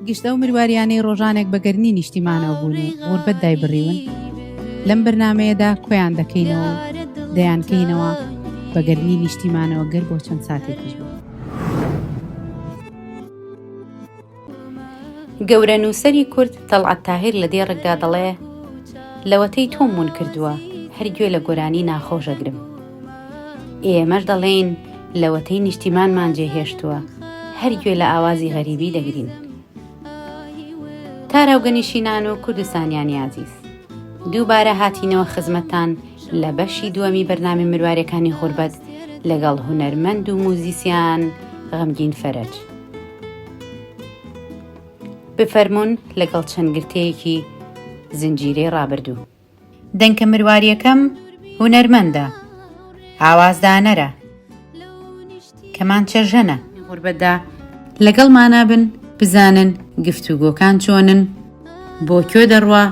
گشت ئەو مرواریانەی ڕۆژانێک بە گەرمی نیشتیمانەوە بوون و غوربەت دایبڕیون لەم بەرنمەیەدا کۆیان دەکەینەوە دەیانکەینەوە بە گەرمی نیشتیمانەوە گەر بۆ چەند ساتێکیش بوو. گەورە نووسەری کورد تەڵعەت تاهیر لە دێڕکدا دەڵێ، لەوەتەی تۆم ون کردووە، هەر گوێ لە گۆرانی ناخۆش ئەگرم. ئێمەش دەڵێین لەوەتەی نیشتیمانمان جێهێشتووە هەر گوێ لە ئاوازی غەریبی دەگرین تاراوگەنیشینان و کوردستانیانی عزیز دووبارە هاتینەوە خزمەتان لە بەشی دووەمی بەرنامی مروارەکانی غوربەت لەگەڵ هونەرمەند و موزیسیان غەمگین فەرج بفەرمونون لەگەڵ چەند گرتەیەکی زنجیرەی ڕابردوو دەنکە مرواریەکەم هونەرمەندە ئاواز دانەرە کەمانچە ژەنە غوربەتدا لەگەڵمانا بن بزانن گفتوگۆکان چۆنن بۆ کۆ دەڕوا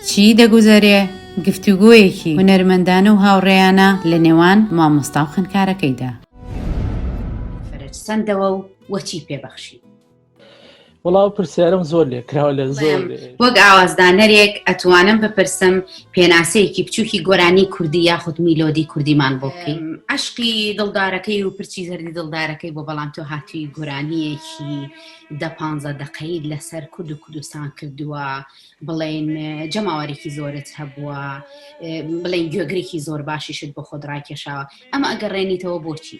چی دەگوزەرێ گفتوگۆیەکی هونەرمەندانە و هاوڕێیانە لە نێوان مامۆستا و خوێندکارەکەیدا. فرج سەندەوە و وەچی پێ بەخشی. وڵاو پرسیارم زۆر لێ کراوە لە زۆر وەک ئاوازدانەرێک ئەتوانم بپرسم پێناسەیەکی بچووکی گۆرانی کوردی یاخود میلۆدی کوردیمان بۆ بکەین عشقی دڵدارەکەی و پرچی زەردی دڵدارەکەی بۆ بەڵام تۆ هاتووی گۆرانیەکی دە پ دقەیت لەسەر کورد و کوردستان کردووە بڵێن جەماوەێکی زۆرت هەبووە بڵێن گوێگرێکی زۆر باشیشت بۆ خۆدڕای کێشاوە ئەمە ئەگەڕێنیتەوە بۆچی؟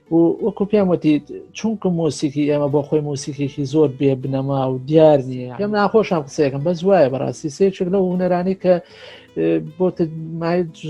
و وەکو پێم وتی چونکە مۆسیکی ئێمە بۆ خۆی مۆسیکێکی زۆر بێ بنەما و دیار نییە پێم ناخۆشم قسەیەکەم بەس وایە بەڕاستی سێچێک لە هوەرانی کە بۆ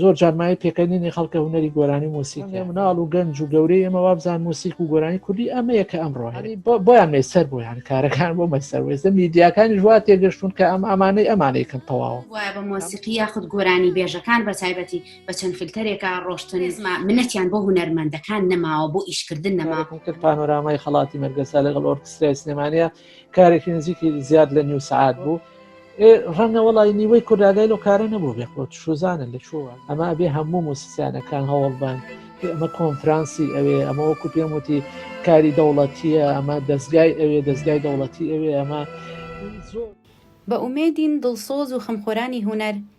زۆر جارمای پێکەنینی خەڵکە هوەری گۆرانی مۆسیکی مناڵ و گەنج و گەورەی ئێمە وابزان مۆسیک و گۆرانی کوردی ئەمەیە کە ئەم ڕۆحانی بۆیان مێسەر بۆیان کارەکان بۆ مەسەر وێزە میدیاکانی ژوا تێگەشتون کە ئەم ئەمانەی ئەمانەیەکەم تەواوە وایە بە مۆسیقی یاخود گۆرانی بێژەکان بە تایبەتی بە چەند فلتەرێکا ڕۆشتن زما منەتیان بۆ هوەرمەندەکان نەماوە بۆ ئیشکردن نەما پێکتر پانۆرامای خەڵاتی مەرگەسا لەگەڵ ئۆرکسترای سلێمانە کارێکی نزیکی زیاد لە نیو سعات بوو. ڕەنگە وڵی نیوەی کورداگای لەو کارە نەبوو بێ خۆت شوزانن لە چووە ئەمە بێ هەموو موسیسیانەکان هەوڵبان ئەمە کۆنفرانسی ئەوێ ئەمە وەکو پێم وتی کاری دەوڵەتیە ئەمە دەستگای ئەوێ دەستگای دەوڵەتی ئەوێ ئەمە زۆر بە ئومێدین دڵسۆز و خەمخۆرانی هونەر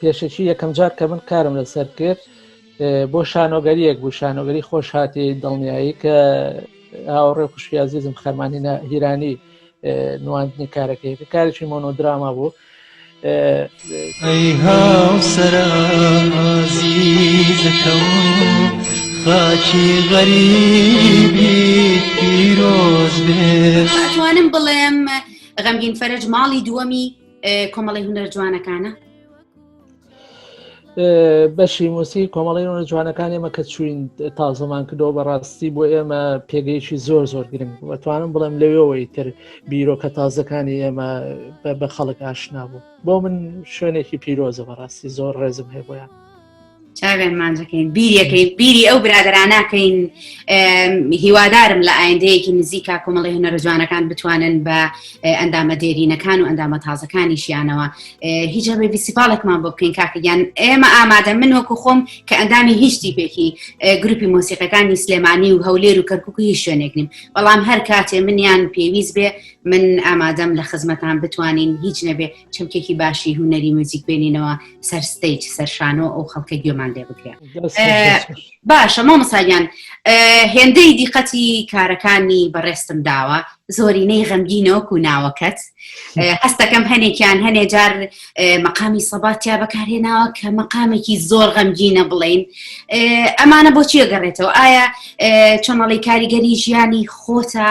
پێشەکی یەکەمجار کە من کارم لەسەر کرد بۆ شانۆگەریەک بوو شانۆگەری خۆش هاتی دڵنیایی کە هاوڕێ خوشکی عزیزم خەرمانی هیرانی نواندنی کارەکەی کە کارێکی مۆنۆدراما بوو خاچی غەریبی پیرۆز بێ توانم بڵێم غەمگین فەرج ماڵی دووەمی کۆمەڵی هونەر جوانەکانە بەشی موسی کۆمەڵی ڕۆنە جوانەکان ئێمە کە چوین تازەمان کردەوە بەڕاستی بۆ ئێمە پێگەیەکی زۆر زۆر گرنگ بەتوانم بڵێم لەوێەوەی تر بیرۆکە تازەکانی ئێمە بە خەڵک ئاشنا بوو بۆ من شوێنێکی پیرۆزە بەڕاستی زۆر ڕێزم هەیە بۆیان چاوێن مانجەکەین بیریەکەین بیری ئەو برادراناکەین هیوادارم لە ئایندەیەکی نزیکا کۆمەڵی هەنەرە جوانەکان بتوانن بە ئەندامە دێرینەکان و ئەندامە تازەکانیشیانەوە هیچ هەبێ ویسیپاڵێکمان بۆ بکەین کاکەگیان ئێمە ئامادە من وەکو خۆم کە ئەندامی هیچ تیپێکی گروپی مۆسیقەکانی سلێمانی و هەولێر و کەرککو هیچ شوێنێک نیم بەڵام هەر کاتێ منیان پێویست بێ من ئامادەم لە خزمەتان بتوانین هیچ نەبێ چەمکێکی باشی هوەری موزیک بێنینەوە سەر ستیج سەر شانۆ ئەو خەڵکە گوێمان لێ بکرێت باشە مامەساگیان هێندەی دیقەتی کارەکانی بەڕێستم داوە زۆرینەی غەمگینەوەک و ناوەکەت هەستەکەم هەنێکیان هەنێ جار مەقامی سەباتیا بەکارهێناوە کە مەقامێکی زۆر غەمگینە بڵین ئەمانە بۆچیە گەڕێتەوە ئایا چۆنەڵی کاریگەری ژیانی خۆتە؟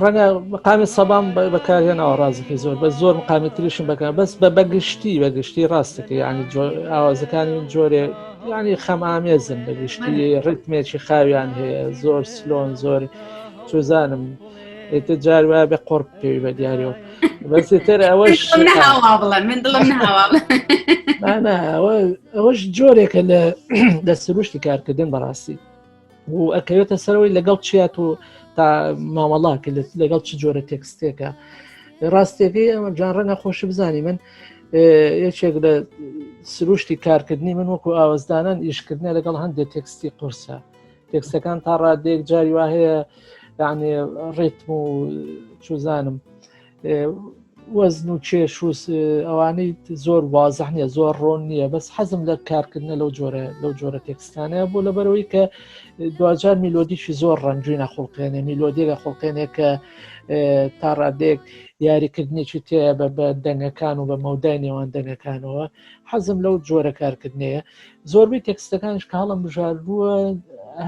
ڕەنگە مقامی سەبام بەکارهێنەوە ڕازەکەی زۆر بە زۆر مقامی تریشم بەکە بەس بە بەگشتی بەگشتی ڕاستەکە ینی ئاوازەکانی جۆرێ ینی خەم ئامێزن بەگشتی ڕتمێکی خاویان هەیە زۆر سلۆن زۆر چزانم ئێتە جار وایە بە قۆڕ پێوی بە دیارەوە بەسێتر ئەوەش ئەوەش جۆرێکە لە سروشتی کارکردن بەڕاستی و ئەکەوێتە سەرەوەی لەگەڵ چیات و تا مامەڵا کە لەگەڵ چ جۆرە تێکستێکە ڕاستێکی ئەمە جان ڕەنگە خۆشی بزانانی من یەکێک لە سروشتی کارکردنی من وەکو ئاوەزدانان ئیشکردنە لەگەڵ هەندێک تێکستی قورسە تێکسەکان تا ڕادێک جاری وا هەیە یعنی ڕێتم و چوزانم وەزن و کێش و ئەوانەی زۆر وازح نیە زۆر ڕۆن نییە بەس حەزم لە کارکردنە لەو جۆرە لەو جۆرە تێکستانەیە بۆ لەبەرەوەی کە دوجار میلۆدیشی زۆر ڕەنجوینە خوڵقێنێ میلۆدیگە خوڵقێنێک کە تا ڕادێک یاریکردنێکی تێ بە بە دەنگەکان و بە مەودای نێوان دەنگەکانەوە حەزم لەو جۆرە کارکردنەیە زۆربەی تێکستەکانش کاڵم بژارووە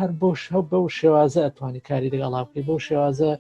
هەر بۆش هەو بەو شێوازە ئەتوانی کاری دەگەڵا بکەی بەو شێوازە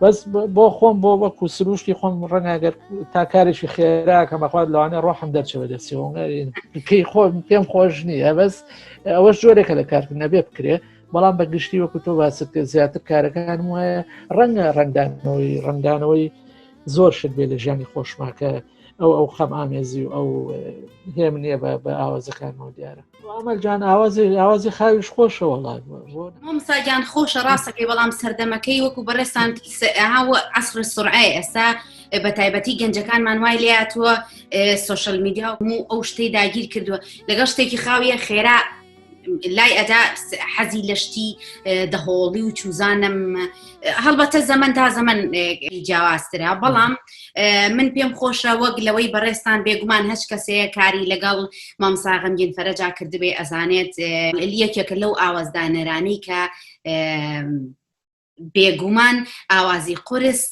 بەس بۆ خۆم بۆ وەکو سروشتی خۆم ڕەنگەگەر تا کارێکی خێراکە مەخوات لەوانێ ڕۆحم دەرچەوە دەسیۆنگەری خۆ پێم خۆش نییە بەس ئەوەش جۆرێکە لە کارکرد نەبێ بکرێ بەڵام بە گشتی وەکو تۆ باست کرد زیاتر کارەکان وایە ڕەنگە ڕنگدانەوەی ڕنگدانەوەی زۆر شت بێ لە ژیانی خۆشماکە ئەو ئەو خەم ئامێزی و ئەو هێم نییە بە ئاوازەکانەوە دیارە ئەمەل جان ئاوازی ئاوازی خاویش خۆشە وڵات مامسا گیان خۆشە ڕاستەکەی بەڵام سەردەمەکەی وەکو بەڕێستان ئەها و عسر سرعای ئێستا بە تایبەتی گەنجەکانمان وای لاتوە سوۆشل میدیا و هەموو ئەو شتەی داگیر کردووە لەگەڵ شتێکی خاویە خێرا لای ئەدا حەزی لەشتی دەهۆڵی و چوزانم هەڵبەتە زەمن تا زەمن جیاوازترا بەڵام من پێم خۆشە وەک لەوەی بەڕێستان بێگومان هەچ کەسەیە کاری لەگەڵ مامساغمگین فەرەجا کردبێ ئەزانێت یەکێکە لەو ئاوازدانەرانی کە بێگومان ئاوازی قرس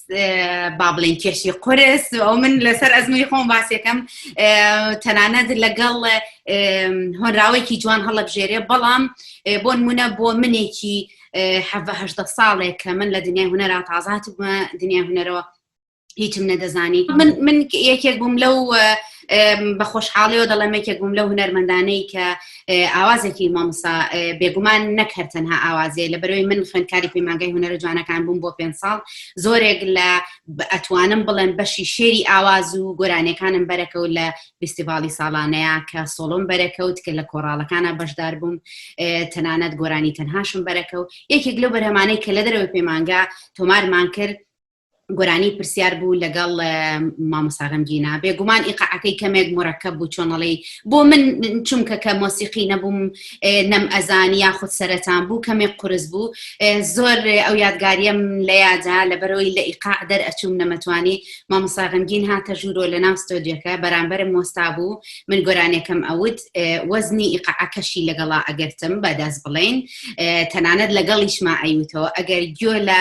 با بڵێن کێشی قرس ئەو من لەسەر ئەزمەی خۆم باسێکم تەنانەت لەگەڵ هۆنراوێکی جوان هەڵەبژێرێ بەڵام بۆ نمونە بۆ منێکی حەهدە ساڵێک کە من لە دنیای هوەرا تازات بووە دنیای هوەرەوە هیچم نەدەزانی من من یەکێک بووم لەو بە خۆشحاڵیەوە دەڵێم یەکێک بووم لەو هوەرمەندانەی کە ئاوازێکی مامسا بێگومان نەکرد تەنها ئاوازێ لە بەرەوەی من خوێندکاری پەیمانگەی هوەرە جوانەکان بووم بۆ پێ ساڵ زۆرێک لە ئەتوانم بڵێن بەشی شێری ئاواز و گۆرانەکانم بەرەکەوت لە فستیڤاڵی ساڵانەیە کە سۆڵۆم بەرەکەوت کە لە کۆڕاڵەکانە بەشدار بووم تەنانەت گۆرانی تەنهاشم بەرەکەوت یەکێک لەو بەرهەمانەی کە لە دەرەوەی پەیمانگا تۆمارمان کرد گۆرانی پرسیار بوو لەگەڵ مامۆسا غەمگینا بێگومان ئیقاعەکەی کەمێک مرەکە بوو چۆنەڵی بۆ من چونکە کە مۆسیقی نەبووم نەم ئەزانی یاخود سەرەتان بوو کەمێک قرس بوو زۆر ئەو یادگاریم لە یادا لە بەرەوەی لە ئیقاع دەر ئەچووم نەمەتوانی مامۆسا غەمگین هاتە ژوورۆ لە ناو ستۆدیەکە بەرامبەرم مۆستا بوو من گۆرانەکەم ئەوت وەزنی ئیقاعەکەشی لەگەڵا ئەگرتم بەدەست بڵێن تەنانەت لەگەڵیشما ئەیوتەوە ئەگەر گوێ لە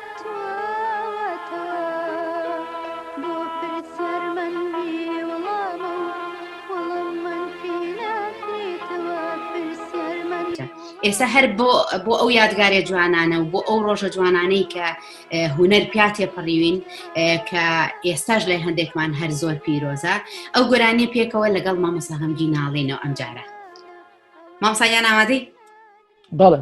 ئێستا هەر بۆ بۆ ئەو یادگارێ جوانانە و بۆ ئەو ڕۆژە جوانانەی کە هوەر پیا تێپەڕیوین کە ئێستاش لای هەندێکمان هەر زۆر پیرۆزە ئەو گۆرانی پێکەوە لەگەڵ مامۆسا هەمگی ناڵێنەوە ئەمجارە مامسایان ئامادەی بەڵێ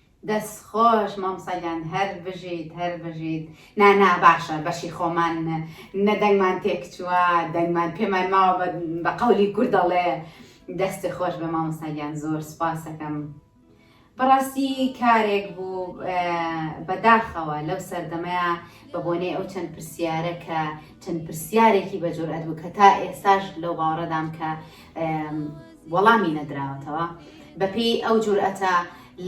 دەست خۆش مامۆستا گیان هەر بژیت هەر بژیت نا نا باشە بەشی خۆمان نە دەنگمان تێکچووە دەنگمان پێمان ماوە بە بە قەولی کورد دەڵێ دەست خۆش بە مامۆستا گیان زۆر سوپاسەکەم بەڕاستی کارێک بوو اه، بەداخەوە لەو سەردەمەیە بە بۆنەی ئەو چەند پرسیارە کە چەند پرسیارێکی بە جورئەت بوو کە تا ئێستاش لەو باوەڕەدام کە اه، وەڵامی نەدراوەتەوە بەپێی ئەو جورئەتە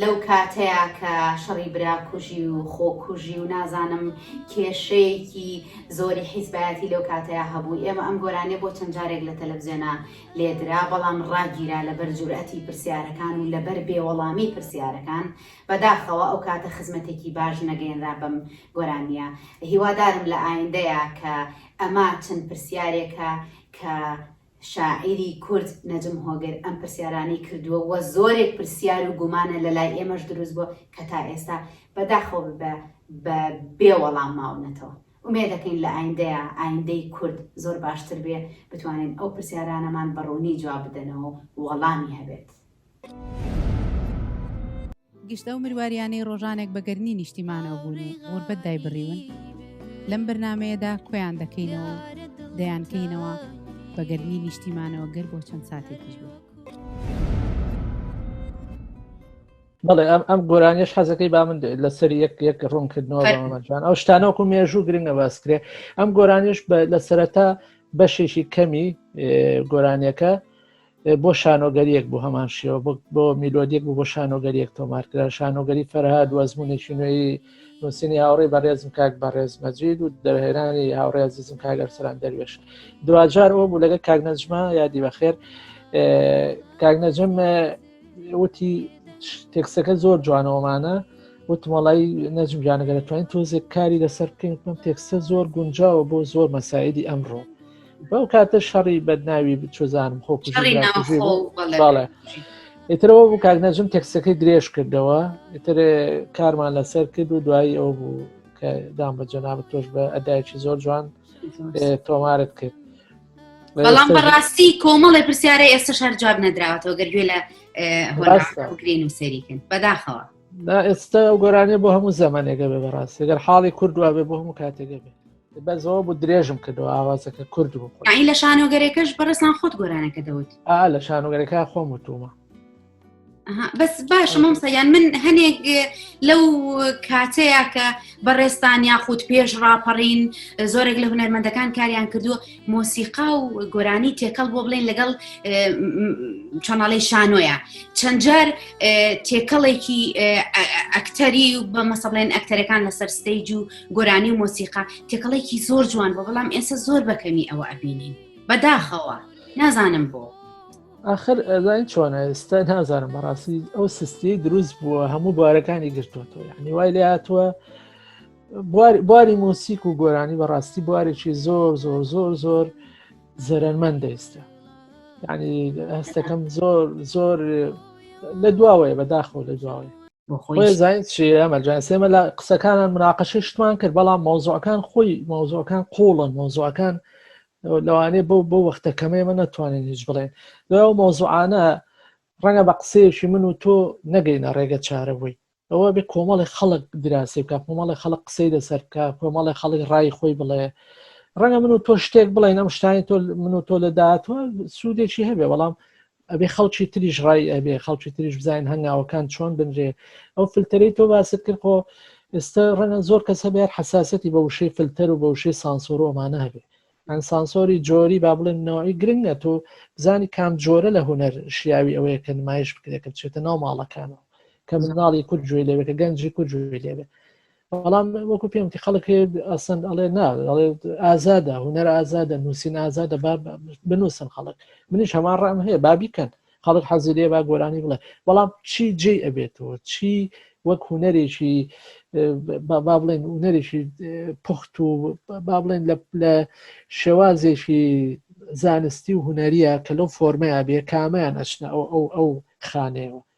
لەو کاتەیە کە شەڕی برا کوژی و خۆکوژی و نازانم کێشەیەکی زۆری حیزبایەتی لەو کاتەیە هەبوو ئێمە ئەم گۆرانێ بۆ چەند جارێک لە تەلەڤزیۆنا لێدرا بەڵام ڕاگیرا لەبەر جورئەتی پرسیارەکان و لەبەر بێوەڵامی پرسیارەکان بەداخەوە ئەو کاتە خزمەتێکی باش نەگەێنرا بەم گۆرانیە هیوادارم لە ئایندەیە کە ئەمە چەند پرسیارێکە کە شاعیری کورد نەجم هۆگر ئەم پرسیارانەی کردووە و زۆرێک پرسیار و گومانە لە لای ئێمەش دروست بووە کە تا ئێستا بە داخەوە بە بە بێ وەڵام ماونەتەوە. ئومێد دەکەین لە ئایندەیا ئایندەی کورد زۆر باشتر بێ بتوانن ئەو پرسیارانەمان بە ڕوونی جواب بدەنەوە و وەڵامی هەبێت. گشت ئەو مرواریانەی ڕۆژانێک بە گەرنی نیشتیمانەوە بوون و غوربەت دایبڕیون لەم بەرنمەیەدا کۆیان دەکەینەوە دەیانکەینەوە بە گەرنی نیشتیمانەوە گەر بۆ چەند ساتێکیش بوو. بەڵێ ئەم ئەم گۆرانیش حەزەکەی با من لەسەر یەک یەک ڕوونکردنەوە بەمەجان ئەو شتانەوەکو مێژوو گرنگە باسکرێ ئەم گۆرانیش لە سەرەتا بەشێکی کەمی گۆرانیەکە بۆ شانۆگەریەک بۆ هەمان شێوە بۆ میلۆدیێک بۆ شانۆگەریەک تۆمارکرا شانۆگەری فەرهاد و ئەزمونێکی نوێی نووسنی هاوڕێ بەڕێزم کاک بەڕێز مەجید و دەرهێنانی هاوڕێ زیزم کاگەرسەران دەروێش دوجار ئەو بوو لەگە کاک نەجمە یادی بەخێر کاک نەجم وتی تێکسەکە زۆر جوانەوەمانە وتمەڵی نەجمگیانەگە دەتوانین تۆزێک کاری لەسەر بکەین تێکسە زۆر گونجاوە بۆ زۆر مەسایدی ئەمڕۆ بەو کاتە شەڕی بەدناوی بچۆزانم خۆ باڵێ ئێترەوە بوو کاک نەجم تەکسەکە درێژ کردەوە ئتر کارمان لەسەر کرد و دوایی ئەو بوو کە دام بە جەنابەت تۆش بە ئەدایکی زۆر جوان تۆمارت کرد بەڵام بەڕاستی کۆمەڵی پرسیارە ئێستا شار جواب نەدراوەتەوە گەر گوێ لە هۆگرین و سەریکن بەداخەوە ئێستا ئەو گۆرانێ بۆ هەموو زەمانێگە بێ بەڕاستی گەر حاڵی کوردوە بێ بۆ هەموو کاتێگە بێ بە زۆ بوو درێژم کردەوە ئاوازەکە کورد بوو ئەی لە شانۆگەرێکەش بەڕێسان خۆت گۆرانەکە دەوت ئا لە شانۆگەرەکە خۆم وتومە بەس باشە مامسا یان من هەنێک لەو کاتەیە کە بەڕێستان یاخود پێش ڕاپەڕین زۆرێک لە هونەرمەندەکان کاریان کردووە مۆسیقا و گۆرانی تێکەڵ بۆ بڵێن لەگەڵ چەناڵی شانۆیە چەندجار تێکەڵێکی ئەکتەری و بە مەسەڵێن ئەکتەرەکان لەسەر ستەیج و گۆرانی و مۆسیقا تێکەڵێکی زۆر جوان بۆ بەڵام ئێستا زۆر بەکەمی ئەوە ئەبینین بەداخەوە نازانم بۆ آخر ئەزانین چۆن ئێستا نازانم بەڕاستی ئەو سستی دروست بووە هەموو بارەکانی گرتوەوە یعنی وای لێ هاتووە باری مۆسیک و گۆرانی بەڕاستی بوارێکی زۆر زۆر زۆر زۆر زەرەنمەند دەیستە ینی هەستەکەم زۆر زۆر لە دواوەیە بەداخەوە لە دواوەیە ئێمە لە قسەکانان مناقەشی شتمان کرد بەڵام مۆزۆەکان خۆی مۆزۆەکان قوڵن مۆزۆەکان لەوانێ بۆ بۆ وەختە کەمەیە من ناتوانین هیچ بڵێن لەو مۆزوعانە ڕەنگە بە قسەیەکی من و تۆ نەگەینە ڕێگە چارەوەی ئەوە بێ کۆمەڵی خەڵک دراسی بکە کۆمەڵی خەڵک قسەی لەسەر بکە کۆمەڵی خەڵک ڕای خۆی بڵێ ڕەنگە من و تۆ شتێک بڵێن ئەم شتانی تۆ من و تۆ لە داهاتوە سوودێکی هەبێ بەڵام ئەبێ خەڵکی تریش ڕای ئەبێ خەڵکی تریش بزانین هەنگاوەکان چۆن بنرێ ئەو فلتەرەی تۆ باست کرد خۆ ئێستا ڕەنە زۆر کەس هەبێت حساسەتی بە وشەی فلتەر و بە وشەی سانسۆر ئەمانە هەبێت ئەن سانسۆری جۆری با بڵێن نەوەی گرنگە تۆ بزانی کام جۆرە لە هوەر شیاوی ئەوەیە کە نمایش بکرێت کە بچێتە ناو ماڵەکانەوە کە مناڵی کورد جوێ لەوێت کە گەنجی کورد جوێ لەوێت بەڵام وەکو پێم کە خەڵک ئەسن ئەڵێ نا ئەڵێ ئازادە هوەر ئازادە نووسین ئازادە با بنووسن خەڵک منیش هەمان ڕام هەیە بابیکەن خەڵک حەزی لێ با گۆرانی بڵێ بەڵام چی جێ ئەبێتەوە چی وەک هوەرێکی با بڵێن هوەرێکی پخت و با بڵێن لە شێوازێکی زانستی و هوەریە کە لەو فۆرمەیە بێ کامیان ئەچنە ئەو ئەو ئەو خانەیەوە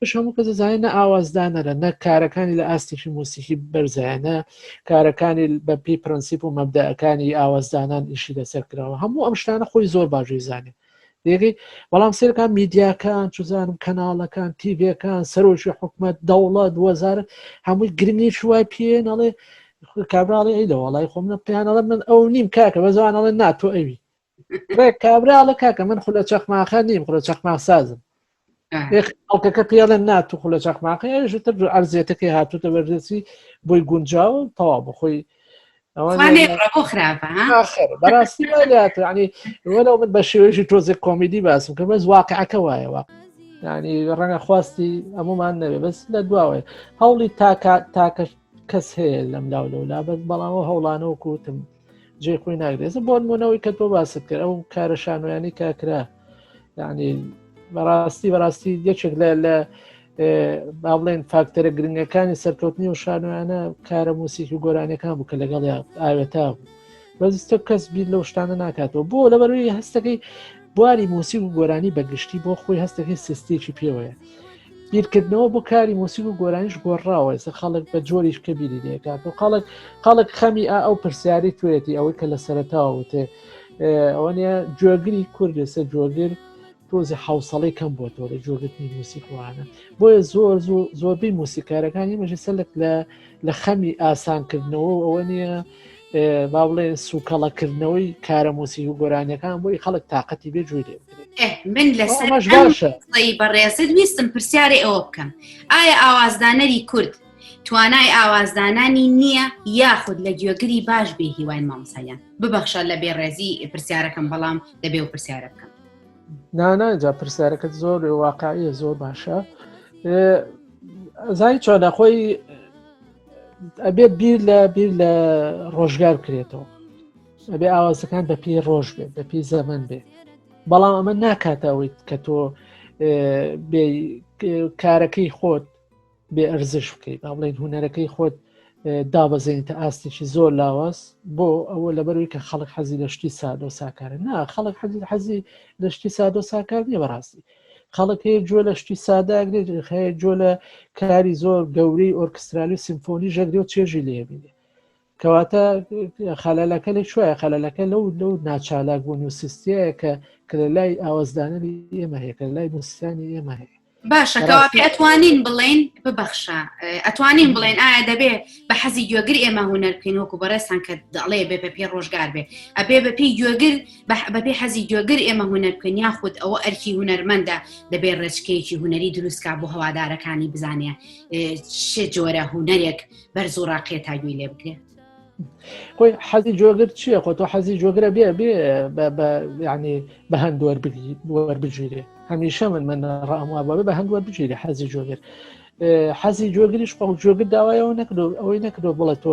پش هەموو کەس دەزانێت نە ئاوازدانەرە نە کارەکانی لە ئاستێکی موسیکی بەرزایەنە کارەکانی بە پێی پرەنسیپ و مەبدەەکانی ئاوازدانان ئیشی لەسەر کراوە هەموو ئەم شتانە خۆی زۆر باشی زانێت دێگەی بەڵام سێرەکان میدیاکان چزانم کەناڵەکان تیڤەکان سەرۆکی حکومت دەوڵەت وەزارت هەمووی گرنگی شوای پێ نەڵێ کابراڵی ئەی لە وڵی خۆم نە پێیانەڵە من ئەو نیم کاکە بە زوانەڵە ناتۆ ئەوی ڕێک کابراڵە کاکە من خولە چەخماخە نیم خولە چەخماخ سازم ئەڵکەکە پێڵێن نات و خولە چەخماقی ئەوش تر ئەرزێتەکەی هاتوتە بەرزێتی بۆی گونجاو و تەوا بخۆی بەڕاستی ینی وەرە من بە شێوێژی تۆزێک کۆمیدی باسم کە بەس واقعەکە وایەوە ینی ڕەنگە خواستی ئەمومان نەوێ بەس لە دواوەیە هەوڵی تاکە تاکە کەس هەیە لەم لاو لەولا بەس بەڵامەوە هەوڵانەوە کوتم جێ خۆی ناگرێزە بۆن مونەوەی کە تۆ باست کرد ئەو کارە شانویانی کاکرا ینی بەڕاستی بەڕاستی یەکێک لە لە با بڵێن فاکتەرە گرنگەکانی سەرکەوتنی و شانوانە کارە موسیکی و گۆرانەکان بوو کە لەگەڵ ئاوێتا بوو بەزیستە کەس بیر لەو شتانە ناکاتەوە بۆ لەبەروی هەستەکەی بواری موسی و گۆرانی بەگشتی بۆ خۆی هەستەکەی سستێکی پێوەیە بیرکردنەوە بۆ کاری موسیک و گۆرانیش گۆڕاوە ئێستا خەڵک بە جۆریش کە بیری لێکات و خەڵک خەڵک خەمی ئەو پرسیاری توێتی ئەوەی کە لە سەرتاوە وتێ ئەوە نیە جۆگری کورد لەسەر جۆگر تۆزی حوسڵی کەم بۆ تۆ لە جۆگرتنی موسیکوانە بۆیە زۆر زۆربەی موسیکارەکانی مەژە سەلک لە لە خەمی ئاسانکردنەوە ئەوە نیە با بڵێ سوکەڵەکردنەوەی کارە موسیک و گۆرانیەکان بۆی خەڵک تااقەتی بێ جوێ لێ من لەسەرش باشە بەڕێزت ویستم پرسیارێ ئەوە بکەم ئایا ئاوازدانەری کورد توانای ئاوازدانانی نییە یاخود لە گوێگری باش بێ هیوای مامسایان ببەخشە لە بێڕێزی پرسیارەکەم بەڵام دەبێ و پرسیارە بکەم ناناجا پرسیارەکەت زۆر واقعە زۆر باشە زای چۆنە خۆی ئەبێ بیر لە بیر لە ڕۆژگار بکرێتەوە ئەبێ ئاوازەکان بە پێی ڕۆژ بێت بە پێی زەمن بێت بەڵام ئەمە ناکاتەوەیت کە تۆ کارەکەی خۆت بێ ئەرزش بکەیت با بڵێن هوەرەکەی خۆت دابەزێن تا ئاستێکی زۆر لاواز بۆ ئەوە لەبەروی کە خەڵک حەزی لە شتی سادۆ ساکارە نا خەڵک حەزی حەزی لە شتی سادۆ ساکار نیە بەڕاستی خەڵک هەیە گوێ لە شتی سادە ئەگرێت، هەیە گوێ لە کاری زۆر گەورەی ئۆرکسترالی و سیمفۆنی ژەگرێ و چێژی لێ بینێ. کەواتە خەلەلەکە لە کوێیە خەلەلەکە لەو لەو ناچالاک بوون و سیستەیە کە کە لە لای ئاوازدانەری ئێمە هەیە کە لە لای موسیانی ئێمە هەیە. باشە کەواپی ئەتوانین بڵین ببەخشە ئەتوانین بڵێن ئایا دەبێ بە حەزی گوێگر ئێمە هوەر بکەین وەکو بەڕێستان کە دەڵێ بێ بە پێ ڕۆژگار بێ ئەبێ بە پێی گوێگر بەبێ حەزی گوێگر ئێمە هونەر بکەن یاخود ئەوە ئەرکی هونەرمەندە دەبێت ڕێچکەیەکی هونەری دروستکە بۆ هەوادارەکانی بزانێ شێ جۆرە هونەرێک بەرز و ڕاقێ تا گوێی لێ بکرێت خۆی حەزی جۆگر چییە خۆ تۆ حەزی جۆگرە بێ بێ ینی بە هەند وەربگیرێ هەمیشە من من ڕاموا بە بە هەند وەربگیرێ حەزی جۆگر حەزی جۆگریش خۆ جۆگر داوایەوە نەکرۆ ئەوەی نەکرۆ بڵێ تۆ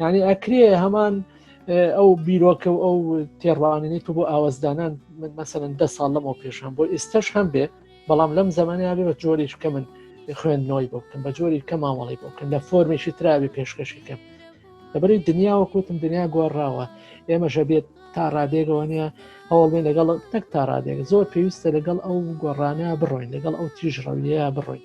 یعنی ئەکرێ هەمان ئەو بیرۆکە و ئەو تێڕوانینی تو بۆ ئاوازدانان من مەسەن دە ساڵ لەمەوە پێش هەم بۆ ئێستش هەم بێ بەڵام لەم زمانیا بێ بە جۆریش کە من خوێندنەوەی بۆ بکەم بە جۆری کە مامەڵی بۆ بکەم لە فۆرمێکی تراوی پێشکەشی کەم لەبەری دنیاوە کوتم دنیا گۆڕاوە ئێمەشە بێت تا ڕادێگەوە نیە هەوڵێن لەگەڵ تەک تا ڕادێک زۆر پێویستە لەگەڵ ئەو گۆڕانە بڕۆین لەگەڵ ئەو تیژ ڕەویە بڕۆین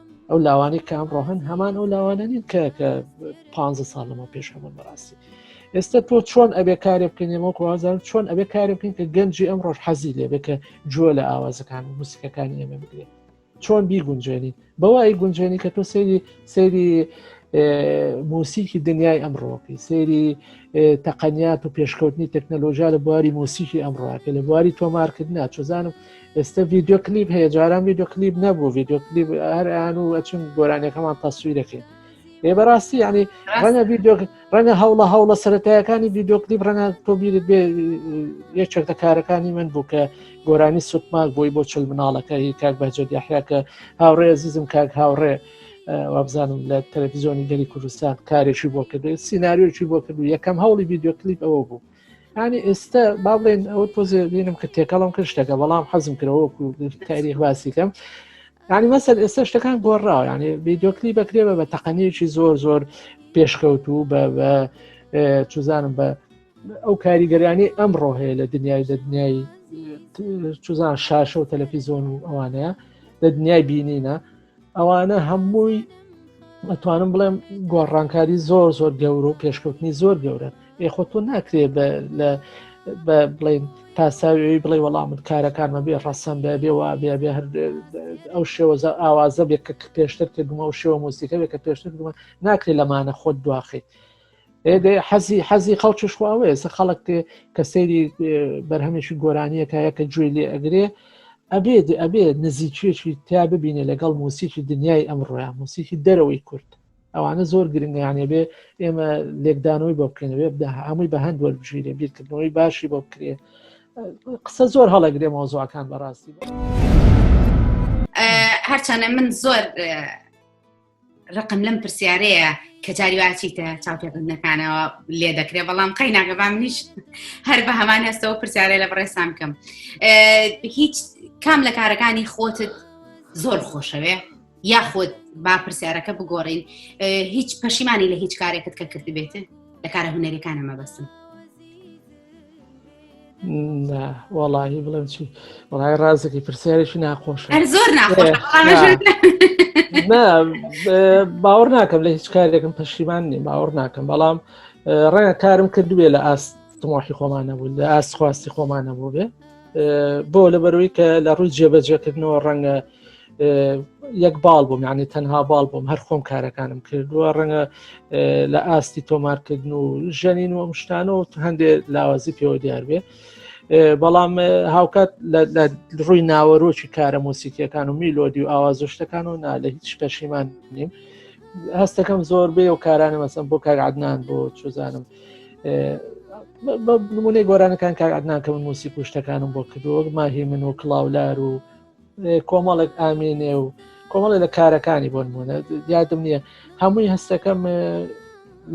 ئەو لاوانەی کە ئەمڕۆ هەن هەمان ئەو لاوانە نین کە کە پ ساڵ لەمە پێش هەمون بەڕاستی ئێستا تۆ چۆن ئەبێ کارێ بکەینەوە کوازان چۆن ئەبێ کارێ بکەین کە گەنجی ئەم ڕۆژ حەزی لێبێ کە جوۆ لە ئاوازەکان و موسیقەکانی ئێمە بگرێت چۆن بیگونجێنین بەوای گونجێنی کە تۆ سەیری سەیری موسیکی دنیای ئەمڕۆکی سەیری تەقەنیات و پێشکەوتنی تەکنەلۆژیا لە بواری موسیکی ئەمڕۆکە لە بواری تۆمارکردنا چزانم ئێستا ڤیددیو کلیب هەیە جاران ڤیددیو کلیب نەبوو ڤیددیو کلیب هەر ئەیان و ئەچون گۆرانەکەمان تەسوی دەکەین ێ بەڕاستی ینی ڕەنگە ڤیددیو ڕەنگە هەوڵە هەوڵە سەتایەکانی ڤیددیو کلیب ڕەنگە تۆبیرت بێ یەکێک لە کارەکانی من بوو کە گۆرانی سوتماک بۆی بۆ چل مناڵەکە هی کاک بەجد یاحیاکە هاوڕێ زیزم کاک هاوڕێ وابزانم لە تەلەڤزیۆنی گەلی کوردستان کارێکی بۆ کرد سینناریۆکی بۆ کرد و یەکەم هەوڵی ڤیددیو کلیپ ئەوە بوو ینی ئێستا با بڵێن ئەو پۆزێ بینم کە تێکەڵم کرد شتەکە بەڵام حەزم کرەوەکو تاریخ باسیکەم ینی مەسەر ئێستا شتەکان گۆڕاو ینی ویددیوکلی بەکرێبە بە تەقەنیەکی زۆر زۆر پێشکەوتوو بە چزانم بە ئەو کاریگەرانی ئەمڕۆ هەیە لە دنیای لە دنیای چزان شاشە و تەلەفیزۆن و ئەوانەیە لە دنیای بینینە ئەوانە هەمووی ئەتوانم بڵێم گۆڕانکاری زۆر زۆر گەور و پێشکەوتنی زۆر گەورە یخۆ تۆ ناکرێ لە بڵین پاساوی بڵێ وەڵامت کارەکانمە بێ ڕەسەن بێ بێ وا بێ بێ هەر ئەو شێوەزە ئاوازە بێ کە پێشتر کردمە ئەو شێوە موسیقەوێ کە پێشتر کردمە ناکرێت لەمانە خۆت دواخیت حەزی حەزی خەڵکیش خواوەیە سە خەڵک کە سەیری بەرهەمێکی گۆرانیەکایە کە گوێ لێ ئەگرێ ئەبێ ئەبێ نزیکێکی تا ببینێ لەگەڵ موسیکی دنیای ئەمڕۆیان موسیکی دەرەوەی کورد ئەوانە زۆر گرنگیانێ بێ ئێمە لێکدانەوەی بۆ بکەینەوە بدا هەمووی بە هەند وەربژیرێ بیرکردنەوەی باشی بۆ بکرێ قسە زۆر هەڵەگرێ مۆزوعەکان بەڕاستی هەرچەنە من زۆر ڕقم لەم پرسیارەیە کە جاری واچیتە چاوپێکردنەکانەوە لێ دەکرێ بەڵام قەی ناگەبام نیش هەر بە هەمان هەستەوە پرسیارە لە بڕێسان بکەم هیچ کام لە کارەکانی خۆتت زۆر خۆشەوێ یاخود با پرسیارەکە بگۆڕین هیچ پەشیمانی لە هیچ کارێکت کە کردبێتن لە کارە هوەرەکانە مەبەستم وەڵی بڵێم چی وڵی ڕازێکی پرسیارێکی ناخۆش زۆر باوەڕ ناکەم لە هیچ کارێکم پەشیمان نیم باوەڕ ناکەم بەڵام ڕەنگە کارم کردوێ لە ئاست تمۆحی خۆمانە بوو لە ئاست خواستی خۆمانە بوو بێ بۆ لە بەروی کە لە ڕووی جێبەجێکردنەوە ڕەنگە یەک باڵ بووم یعنی تەنها باڵ بووم هەر خۆم کارەکانم کردووە ڕەنگە لە ئاستی تۆمارکردن و ژەنین و ئەمشتانە و هەندێ لاوازی پێوە دیار بێ بەڵام هاوکات لە ڕووی ناوەرۆکی کارە مۆسیکیەکان و میلۆدی و ئاوازشتەکان و نا لە هیچ پەشیمان نیم هەستەکەم زۆر بێ و کارانە مەسم بۆ کارعادنان بۆ چزانم نمونەی گۆرانەکان کارعادنان کە من موسی پشتەکانم بۆ کردووە ماهی من و کلااولار و کۆمەڵێک ئامێنێ و کۆمەڵێ لە کارەکانی بۆ نمونە یادم نییە هەمووی هەستەکەم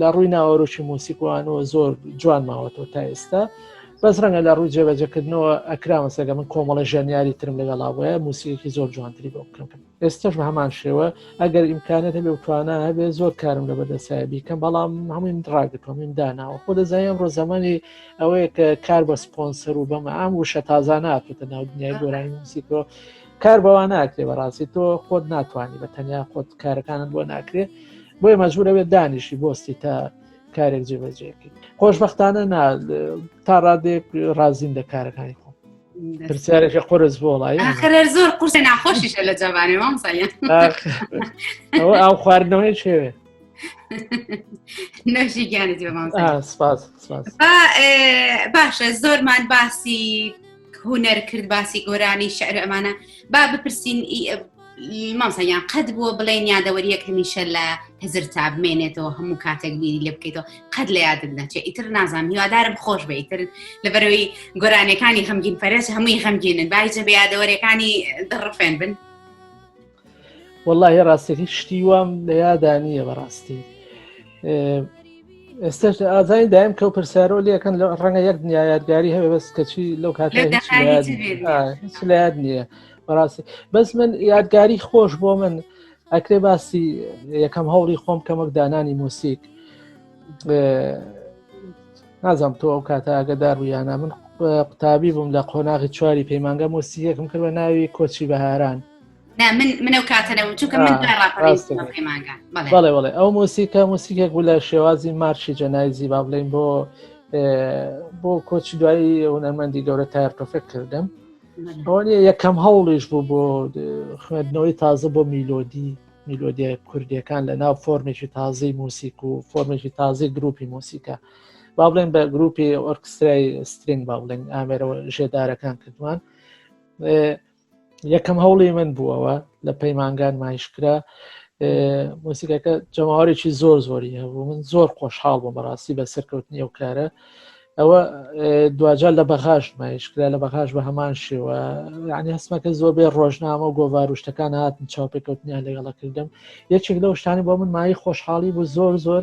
لە ڕووی ناوەرۆکی موسیکوانەوە زۆر جوان ماوەتەوە تا ئێستا بەس ڕەنگە لە ڕووی جێبەجەکردنەوە ئەکرامە سەگە من کۆمەڵە ژەنیاری ترم لەگەڵا بۆە موسیەکی زۆر جوانتری بۆ بکەم ئێستش بە هەمان شێوە ئەگەر ئیمکانێت هەبێ توانە هەبێ زۆر کارم لە بەدەسایە بیکەم بەڵام هەموویم ڕاگرتۆمیم داناوە خۆ دەزانیم ڕۆ زمانی ئەوەیە کە کار بە سپۆنسەر و بەمە ئەم وشە تازانە هاتوتە ناو دنیای گۆرانی موسی تۆ کار بەوان ناکرێ بەڕاستی تۆ خۆت ناتوانانی بە تەنیا خۆت کارەکانت بۆ ناکرێ بۆیە مەجبورەوێت دانیشی بۆستی تا کارێک جێبەجێکرد خۆشببختانە نا تا ڕادێک ڕازیم لە کارەکانی خۆ پرسیارێکی قرس بۆ وڵی زۆر قورسە ناخۆشیشە لە جوانێ مامسایە ئەو خواردنەوەی شێوێ نەژی گیانت باشە زۆرمان باسی هوەر کرد باسی گۆرانی شعر ئەمانە با بپرسین مامسەیان قەت بووە بڵێن یادەوەریەک هەمیشە لە هزر تا بمێنێتەوە هەموو کاتێک بیری لێ بکەیتەوە قەت لە یادم نەچێ ئیتر نازان هیوادارم خۆش بە ئیتر لەبەرەوەی گۆرانەکانی غەمگین پەرێز هەمووی غەمگینن باجە بە یادەوەریەکانی دڕفێن بن. وەڵی ڕاستەکە شتی وام لە یادا نییە بەڕاستی ئێستا ئازای دایم کە پرسیارۆ لەکەن لە ڕەنگە یەک دنیا یادگاری هەیە بەس کەچی لەو کات لایاد نییە بەڕاستی بەس من یادگاری خۆش بۆ من ئەکرێ باسی یەکەم هەوڵی خۆم کەمەک دانانی موسیک نازانم تۆ ئەو کاتە ئەگەدار ویانە من قوتابی بووم لە قۆناغی چواری پەیمانگە مۆسیەکم کردە ناوی کۆچی بەهاران من منە و کاتەرە و چونکە من دوای ڕاپەڕین پەیمانگا بەڵێ بەڵێ بەڵێ ئەو موسیکە موسیکێک بوو لە شێوازی مارشی جەنایزی با بڵێین بۆ بۆ کۆچی دوایی هونەرمەندی گەورە تایەر تۆفێک کردم ئەوە یەکەم هەوڵیش بوو بۆ خوێندنەوەی تازە بۆ میلۆدی میلۆدیە کوردیەکان لە ناو فۆرمێکی تازەی موسیک و فۆرمێکی تازەی گروپی موسیکە با بڵێن بە گروپی ئۆرکسترای سترینگ با بڵێن ئامێرەوە ژێدارەکان کردوان یەکەم هەوڵی من بوو ئەوە لە پەیمانگان مایشکرا موسیقەکە جەماوارێکی زۆر زۆری هەبوو من زۆر خۆشحاڵ بۆ بەڕاستی بە سەرکەوتنی ئەو کارە ئەوە دوجار لە بەغاش مایشکرا لە بەغاش بە هەمان شێوە یعنی هەستمەکە زۆر بێ ڕۆژنامە و گۆڤاروشتەکان هاتن چاوپێکەوتنیان لەگەڵە کردم یەکێک لەو شتانی بۆ من مای خۆشحاڵی بوو زۆر زۆر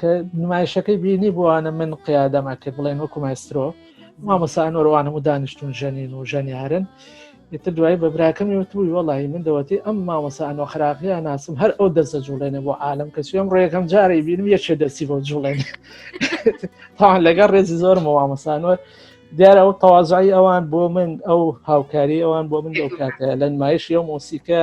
کە نمایشەکەی بینی بووانە من قیادەم ئەکرد بڵێن وەکو مایسترۆ مامۆسانۆروانم و دانیشتون ژەنین و ژەنیارن ئیتر دوای بە براکەمی وتوی وەڵی من دەوەتی ئەم مامۆسانۆ خراقیە ناسم هەر ئەو دەستە جوڵێنە بۆ عالم کە سوێم ڕێەکەم جارەی بینم یەکێ دەستی بۆ جوڵێن تاان لەگەڵ ڕێزی زۆرم و مامۆسانۆر دیارە ئەو تەوازایی ئەوان بۆ من ئەو هاوکاری ئەوان بۆ من لەو کاتە لە نمایش یە مۆسیکە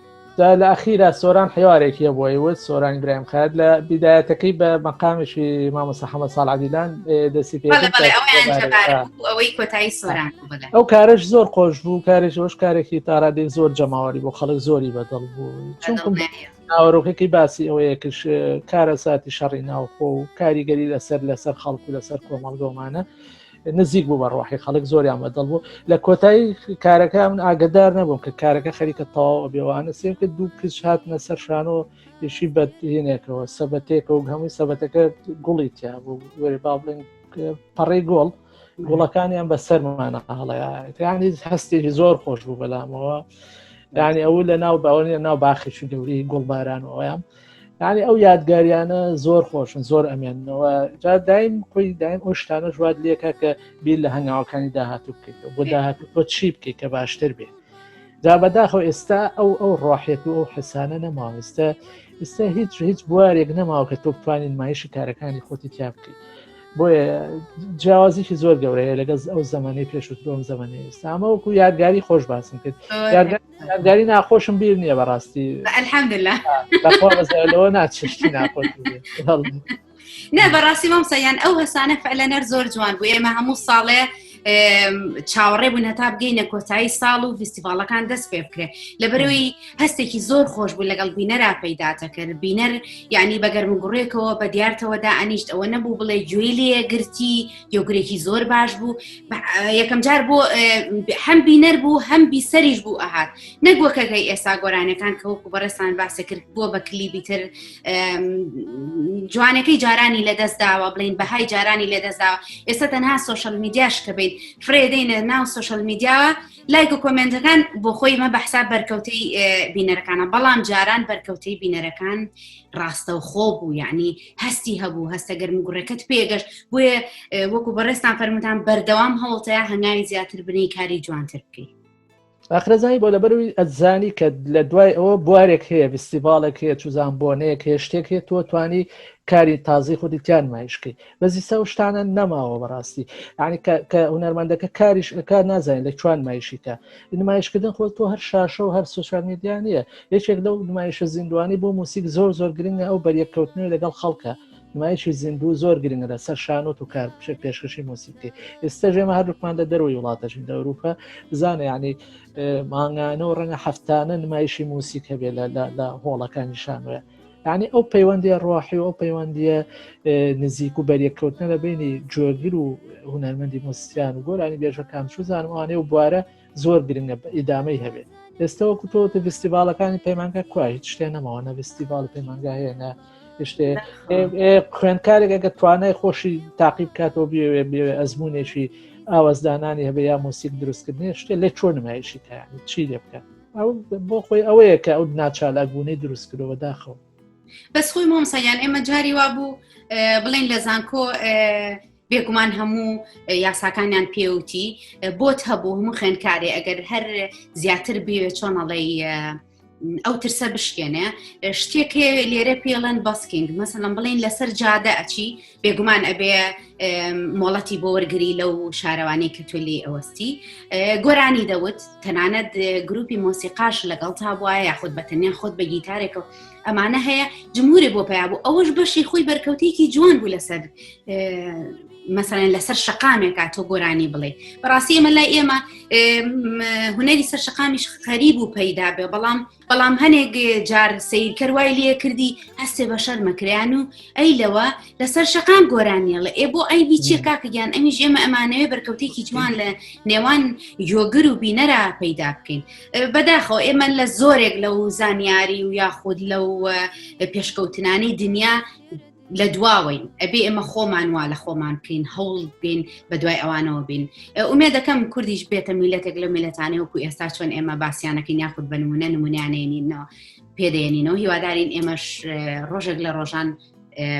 دا لە ئەخیرا سۆران حیوارێکی هەبووە وت سۆران برایم خات لە بیدایەتەکەی بە مەقامێکی مامۆستا حەمە ساڵ عەدیلان دەستی پێ ئەو کارش زۆر خۆش بوو کارێک ئەوش کارێکی تارادێک زۆر جەماوەری بۆ خەڵک زۆری بەدڵ بوو چونکم ناوەرۆکێکی باسی ئەوەیە کش کارە ساتی شەڕی ناوخۆ و کاریگەری لەسەر لەسەر خەڵکو لەسەر کۆمەڵگۆمانە نزیک بوو بە ڕۆحی خەڵک زۆریان بەدڵ بوو لە کۆتایی کارەکە من ئاگدار نەبووم کە کارەکە خەریکە تەواو بێوانە سێم کرد دوو کچ هاتنە سەر شانۆ یشی بەدینێکەوە سەبەتێکەوە هەمووی سەبەتەکە گوڵی تیا بوو وەێ با بڵێن پەڕی گۆڵ گوڵەکانیان بە سەرمانە هەڵەیانی هەستێکی زۆر خۆش بوو بەلامەوە دانی ئەو لە ناو باوەنی ناو باخیشی گەوری گوڵبارانەوەیان یعنی ئەو یادگاریانە زۆر خۆشن زۆر ئەمێنەوە جا دایم خۆی دایم ئەو شتانە ژوات لێکە کە بیر لە هەنگاوەکانی داهاتوو بکەیت بۆ داهاتوو تۆ چی بکەیت کە باشتر بێت جا بەداخەوە ئێستا ئەو ئەو ڕاحێت و ئەو حسانە نەماوەستە ئێستا هیچ هیچ بوارێک نەماوە کە تۆ بتوانین مایشی کارەکانی خۆتی تیا بکەیت بۆیە جیاوازیکی زۆر گەورەیە لەگەز ئەو زمانی پێشوترۆم زمانی ئێستا ئەمە وەکو یادگاری خۆش باسم کرد ناداری ناخۆشم بیر نییە بەڕاستی الحمدلله لەخۆ ناچشتی ناخۆش نە بەڕاستی مامسەیان ئەو هەسانە فعلەنەر زۆر جوان بوو ئێمە هەموو ساڵێ چاوەڕێ بوون هەتا بگەینە کۆتایی ساڵ و فیستیڤالەکان دەست پێ بکرێ لە بەرەوەی هەستێکی زۆر خۆش بوو لەگەڵ بینەرا پەیداتەکرد بینەر یعنی بەگەرم گوڕێکەوە بە دیارتەوەدا ئەنیشت ئەوە نەبوو بڵێ گوێی لێ گرتی یۆگرێکی زۆر باش بوو یەکەم جار بۆ هەم بینەر بوو هەم بیسەریش بوو ئەهات نەگوەکەگەی ئێستا گۆرانەکان کە وەکو بەڕێسان باسە کرد بووە بە کلیبی تر جوانەکەی جارانی لە دەست داوە بڵین بەهای جارانی لە دەستداوە ئێستا تەنها سوۆشل میدیاش کە بیت فرێدەینە ناو سوۆشل میدیاوە لایک و کۆمنتەکان بۆ خۆی مە بەحسا بەرکەوتەی بینەرەکانە بەڵام جاران بەرکەوتەی بینەرەکان ڕاستەوخۆ بوو یعنی هەستی هەبوو هەستە گەرمگوڕەکەت پێگەشت بۆیە وەکو بەڕێستان فەرموتان بەردەوام هەوڵتەیە هەنگاوی زیاتر بنی کاری جوانتر بکەیت ئاخرەزانی بۆ لەبەروی ئەزانی کە لە دوای ئەوە بوارێک هەیە فستیڤالێک هەیە چوزان بۆنەیەک هەیە شتێک هەیە تۆ توانی کاری تازی خودی تیان مایشکی بەزی سا شتانە نەماوە بەڕاستی ینی کە هوەرمەندەکە کاریش ئەکات نازانین لە چوان مایشیکە نمایشکردن خۆ تۆ هەر شاشە و هەر سوسیال میدیا نیە یەکێک لەو نمایشە زیندوانی بۆ موسیک زۆر زۆر گرنگە ئەو بەریەککەوتنەوە لەگەڵ خەڵکە نمایشی زیندوو زۆر گرنگە لە سەر شانۆت و کار بچێت پێشکەشی موسیقی ئێستا ژێمە هەردووکمان لە دەروی وڵاتەژین لە ئەوروپا بزانە ینی مانگانە و ڕەنگە هەفتانە نمایشی موسیک هەبێت لە هۆڵەکانی شانوێ یعنی ئەو پەیوەندی ڕۆحی و ئەو پەیوەندیە نزیک و بەریەککەوتنە لە بینی جۆگر و هوەرمەندی موسیان و گۆرانی بێژەکان چوزانم ئەوانێ و بوارە زۆر گرنگە بە ئیدامەی هەبێت ئێستەوە کوتۆتە فستیڤالەکانی پەیمانگە کوای هیچ شتێ نەماوە نە فستیڤال پەیمانگا هەیە نە شتێ خوێندکارێک ئەگە توانای خۆشی تاقیب کاتەوە بێوێ بێوێ ئەزمونێکی ئاوازدانانی هەبێ یا مۆسیک دروستکردنی شتێ لە چۆن نمایشی تایانی چی لێ بکات ئەو بۆ خۆی ئەوەیە کە ئەو ناچالاک بوونەی دروست کرەوە داخەوە بەس خۆی مۆمسەیان ئێمە جاری وا بوو بڵین لە زانکۆ بێگومان هەموو یاساکانیان پێوتی بۆت هەبوو هەموو خوێنکارێ ئەگەر هەر زیاتر بوێ چۆنەڵی ئەو ترسە بشکێنێ شتێکێ لێرە پێڵەن بەسکینگ مەسەلم بڵین لەسەر جادە ئەچی بێگومان ئەبێ مۆڵەتی بۆ وەرگری لەو شارەوانی کە تۆ لێ ئەوەستی گۆرانی دەوت تەنانەت گروپی مۆسیقاش لەگەڵ تا بواە یاخود بە تەنیا خۆت بە گیتارێکە و ئەمانە هەیە جمهورێ بۆ پیا بوو ئەوەش بەشی خۆی بەرکەوتێکی جوان بوو لەسەر مەسەرەن لەسەر شقامێکا تۆ گۆرانی بڵێ بەڕاستی ئێمە لای ئێمە هوەری سەر شقامیش خەریب و پەیدا بێ بەڵام بەڵام هەنێک جار سیرکەر وای لێ کردی هەستێ بە شەرمەکریان و ئەی لەوە لەسەر شەقان گۆرانیە لە ئێ بۆ ئەی بیچێ کاکەگیان ئەمیش ئێمە ئەمانەوێ بەرکەوتێکی جوان لە نێوان یۆگر و بینەرا پەیدا بکەین بەداخەوە ئێمە لە زۆرێک لەو زانیاری و یاخود لەو پێشکەوتنانی دنیا لە دواوەین ئەبێ ئێمە خۆمان وا لە خۆمان بکەین هەوڵ بین بە دوای ئەوانەوە بین ئومێ دەکەم کوردیش بێتە میلەتێک لە میلەتانەیە وکو ئێستا چۆن ئێمە باسییانەکە یاخود بنمونە نمونیانێنینەوە پێدێنینەوە هیوادارین ئێمەش ڕۆژێک لە ڕۆژان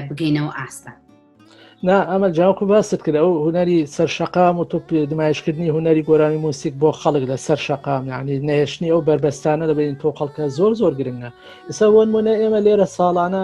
بگەینەوە ئاستە. نا ئەمە جاوکو باست کرد ئەو هوەری سەر شقام و توپ نمایشکردنی هوەری گۆرانی موسیک بۆ خەڵک لە سەر شقام یعنی نەهێشتنی ئەو بەربەستانە دەبین تۆ خەڵکە زۆر زۆر گرنگە ئسا وەنمونە ئێمە لێرە ساڵانە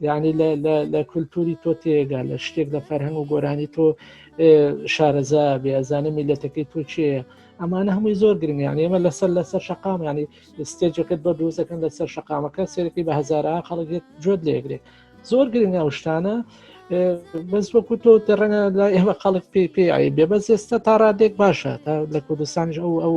یعنی لە کولتوری تۆ تێگا لە شتێک لە فەرهەنگ و گۆرانی تۆ شارەزا بێ ئەزانە میلەتەکەی تۆ چێە ئەمانە هەمووی زۆر گرنگ یان ئێمە لەسەر لەسەر شقام ینی ستێجەکەت بە دۆزەکەن لەسەر شقامەکە سێرەکەی بە هزارە خەڵکێت جۆت لێگرێت زۆر گرنگە و شتانە بەس وەکو تۆ تێڕەنگە لە ئێمە خەڵک پێی پێ بێ بەس ئێستا تا ڕادێک باشە تا لە کوردستانیش ئەو ئەو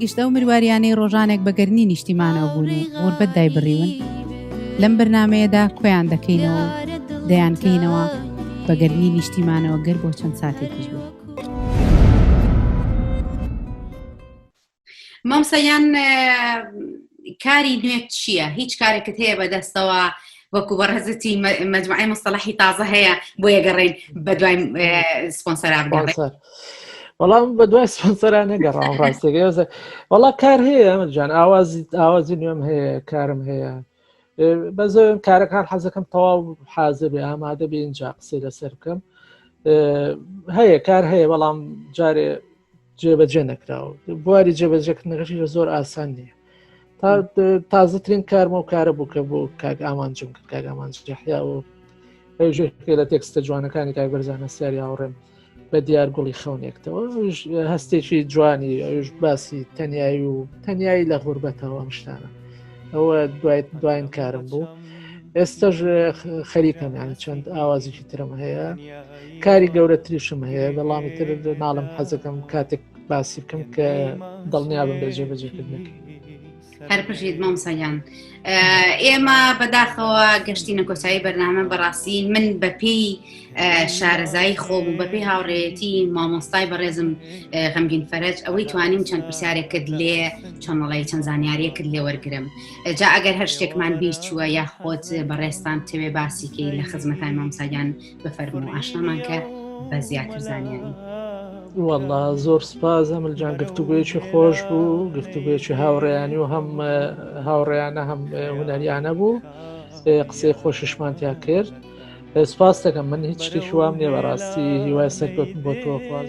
گشت ئەو مرواریانەی ڕۆژانێک بە گەرمی نیشتیمانەوە بوون و غوربەت دایبڕیون لەم بەرنامەیەدا کۆیان دەکەینەوە و دەیانکەینەوە بە گەرمی نیشتیمانەوە گەر بۆ چەند ساتێکیش بێت. مامۆستا یان کاری نوێت چییە هیچ کارێکت هەیە بەدەستەوە وەکو بەڕێزتی مە- مجموعی مستەڵحی تازە هەیە بۆ یەگەڕێن بە دوای اه، سپۆنسەرا بگەڕێن باشە. بەڵام بە دوای سپۆنسەران نەگەڕام ڕاستێک وەڵا کار هەیە ئەمەجان ئاوازی ئاوازی نوێم هەیە کارم هەیە بە زۆر کارەکان حەزەکەم تەواو حازر بێ ئامادە بێ اینجا قسەی لەسەر بکەم هەیە کار هەیە بەڵام جارێ جێبەجێ نەکراوە بواری جێبەجێکردنەکەشی لە زۆر ئاسان نییە تا تازەترین کارمە و کارە بوو کە بۆ کاک ئامانجم کرد کاک ئامانجحیا و پێ لە تێکستە جوانەکانی کاک بەرزانە سیاری هاوڕێم بە دیار گوڵی خەونێکتەوە هەستێکی جوانی ئەوش باسی تەنایی و تەنایی لە غوربەتەوە ئەم شتانە ئەوە دوای دواین کارم بوو ئێستاش خەریکەمیان چەند ئاوازیی ترم هەیە کاری گەورەتریشم هەیە بەڵامی تر ناڵم حەزەکەم کاتێک باسی بکەم کە دڵنیابم لە جێبەجێکردنەکە هەر پژیت مامسەیان ئێمە بەداخەوە گەشتی نەکۆسایی بەرنامە بەڕاستی من بەپی شارەزایی خۆم و بەپی هاوڕێتی مامۆستای بەڕێزم غەمگین فەرج ئەوەی توانیم چەند پرسیارێک کرد لێ چۆنڵی چەند زانیاریە کرد لێ وەرگرم جا ئەگەر هەر شتێکمان بیر چووە یا خۆت بەڕێستان تەوێ باسیکەی لە خزمەتای مامساگیان بفەرموو ئاشنامان کە بە زیاتر زانیاری وەڵا زۆر سپاس هەملجان گفتوگوێکی خۆش بوو گفتوگوێکی هاوڕێیانی و هەم هاوڕێیانە هەم هوەریانە بوو قسەی خۆشیشمانتیا کرد سپاس دەکەم من هیچ شتێکی وام نیە بەڕاستی هیوای سەرکەوتن بۆ تۆخواز